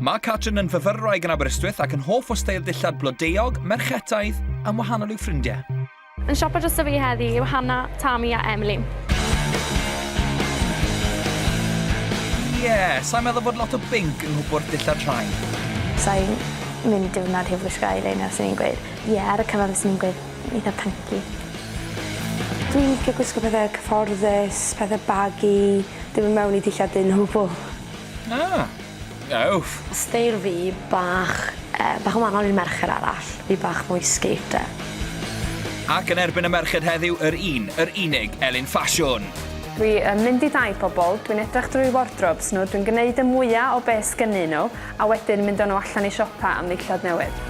Mae Catrin yn fyfyrwraig yn Aberystwyth ac yn hoff o steil dillad blodeuog, merchetaidd, am wahanol i'w ffrindiau. Yn siopa dros y fi heddi yw Hanna, Tami a Emily. Ie, yeah, sa'n meddwl bod lot o binc yng nghwpwrdd dillad rhai. Sa'n mynd diwrnod heb wisgo eyeliner, sy'n i'n gweud, ie, yeah, ar y cyfan sy'n i'n gweud, Eitha punky. Dwi'n licio gwisgo pethe cyfforddus, pethe baggy, dim yn mewn i dillad dyn o gwbl. Ah! Ewff! Steil fi, bach yy bach yn wahanol i'r merched arall, fi bach mwy skater. Ac yn erbyn y merched heddiw, yr un, yr unig, Elin Ffasiwn! Dwi yn mynd i dai pobl, dwi'n edrach drwy wardrobes nhw, dwi'n gneud y mwya o be sgynnyn nhw, a wedyn mynd â nhw allan i siopa am ddillad newydd.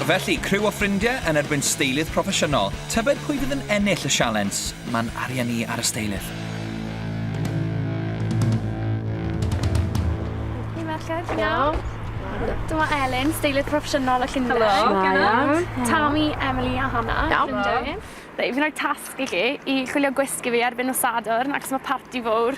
Felly, criw o ffrindie yn erbyn steilydd proffesiynol. Tybed pwy fydd yn ennill y sialens? Mae'n arian i ar y steilydd. Hei merched. Iawn. Dyma Elin, steilydd proffesiynol y Llundain. Helo. Helo. Tami, Emily a Hannah. Iawn. Llundain. Reit, fi'n rhoi tasg i chi i chwilio gwisg i fi erbyn nos Sadwrn, achos mae parti fawr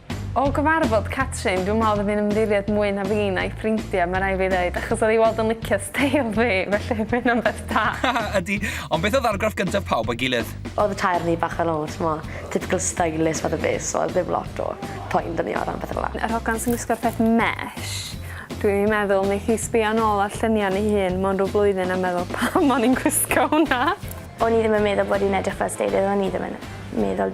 O gyfarfod Catrin, dwi'n meddwl oedd hi'n ymddiried mwy na fi na'i ffrindiau, mae rai fi ddeud, achos oedd hi weld yn licio steil fi, felly mae hynna'n beth da. Ydy, ond beth oedd argraff gyntaf pawb o'i gilydd? Oedd y tair o ni bach fel o, t'mod, typical stylish fath o beth, so oedd ddim lot o poen 'da ni o ran pethe fel 'a. Yr hogan sy'n gwisgo'r peth mesh, dwi'n meddwl neith hi sbio nôl ar lluniau ni hun mewn rhyw flwyddyn a meddwl 'pam o'n i'n gwisgo hwnna? O'n i ddim yn meddwl bod hi'n edrych fel steilydd, o'n i ddim yn meddwl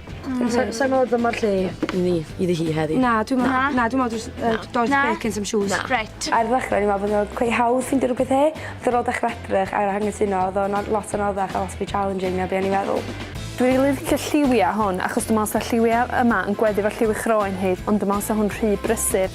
Hmm. Sa sa i'n me'wl dyma'r lle i ni iddi hi heddi. Na dwi me'wl... Na. Na dwi me'wl jys yy does Na. beth gen some shoes. Na. Reit. Ar ddechrau o'n i'n meddwl bod o'n cweit hawdd ffindio rhywbeth he, ond ar ôl dechrau edrych ar anghytuno oedd o'n ar- lot anoddach a lot fwy challenging na be' o'n i'n meddwl. Dwi rili licio lliwia hwn achos dwi me'wl sa lliwia yma yn gweddu efo lliw 'i chroen hi ond dwi me'wl sa hwn rhy brysur.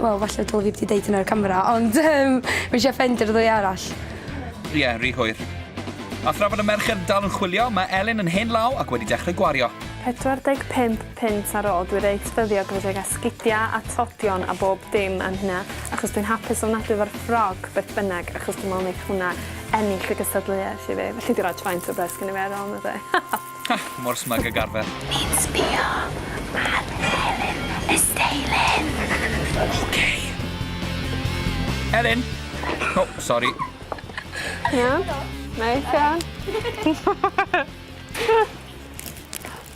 Wel falle dyle fi 'di deud hynna ar y camera ond yym fi isie ffendio ddwy arall. Ie, ry hwyr. A thra bod y merched dal yn chwilio, mae Elin yn hen law ac wedi dechrau gwario. 45 punt ar ôl, dwi reit ffyddiog efo deg asgidia a tlodion a bob dim am hynna achos dwi'n hapus ofnadwy efo'r ffrog beth bynnag achos dwi'n me'wl neith hwnna ennill y gystadleuaeth i fi. Felly dwi roi faint o bres gynno fi ar ôl 'na 'de? Ha! Mor smug ag arfer. Fi'n sbio ar Elin Esteilin. Ok. Elin! O, sori. Iawn? Neis iawn.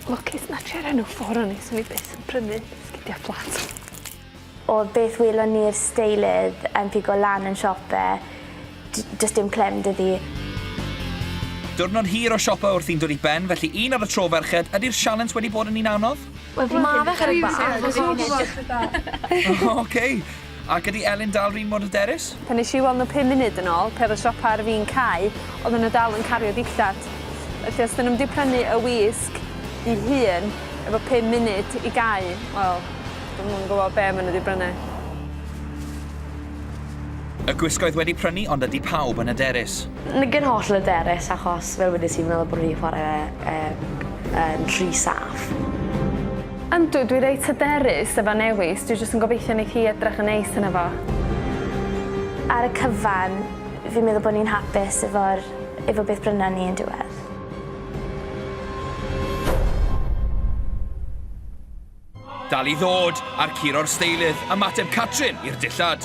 Lwcus na try'r enw ffôn o'n i, swn i byth yn prynu sgidia' fflat. O'r beth welon ni'r steilydd yn pigo lan yn siop fe, does dim clem 'da fi. Diwrnod hir o siopa wrth i'n dod i ben, felly un ar y tro ferched, ydi'r sialens wedi bod yn un anodd? Wel fi'n credu bod e'n anodd. Ok! Ac ydi Elin dal r'un mor hyderus? Pan nes i weld nhw pum munud yn ôl, pe oedd y siopa ar fin cau, oedden nhw dal yn cario dillad. Felly os 'dyn nhw'm 'di prynu y wisg 'i hun efo pum munud i gau, wel, Dwi'm yn gwybod be maen nhw wedi brynu. Y gwisg oedd wedi prynu ond ydy pawb yn hyderus? Nid yn holl hyderus achos fel wedes i fi'n meddwl bod nhw wedi chwarae e yn rhy saff. Yndw, dwi reit hyderus efo Newis, dwi jyst yn gobeithio neith hi edrych yn neis yno fo. Ar y cyfan, fi'n meddwl bod ni'n hapus efo'r efo beth brynan ni yn diwedd. Dal i ddod, a'r curo o'r steilydd, ymateb Catrin i'r dillad.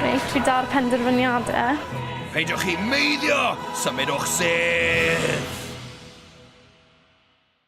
Reit, fi da'r penderfyniadau. Peidiwch chi meiddio! Symudwch sedd!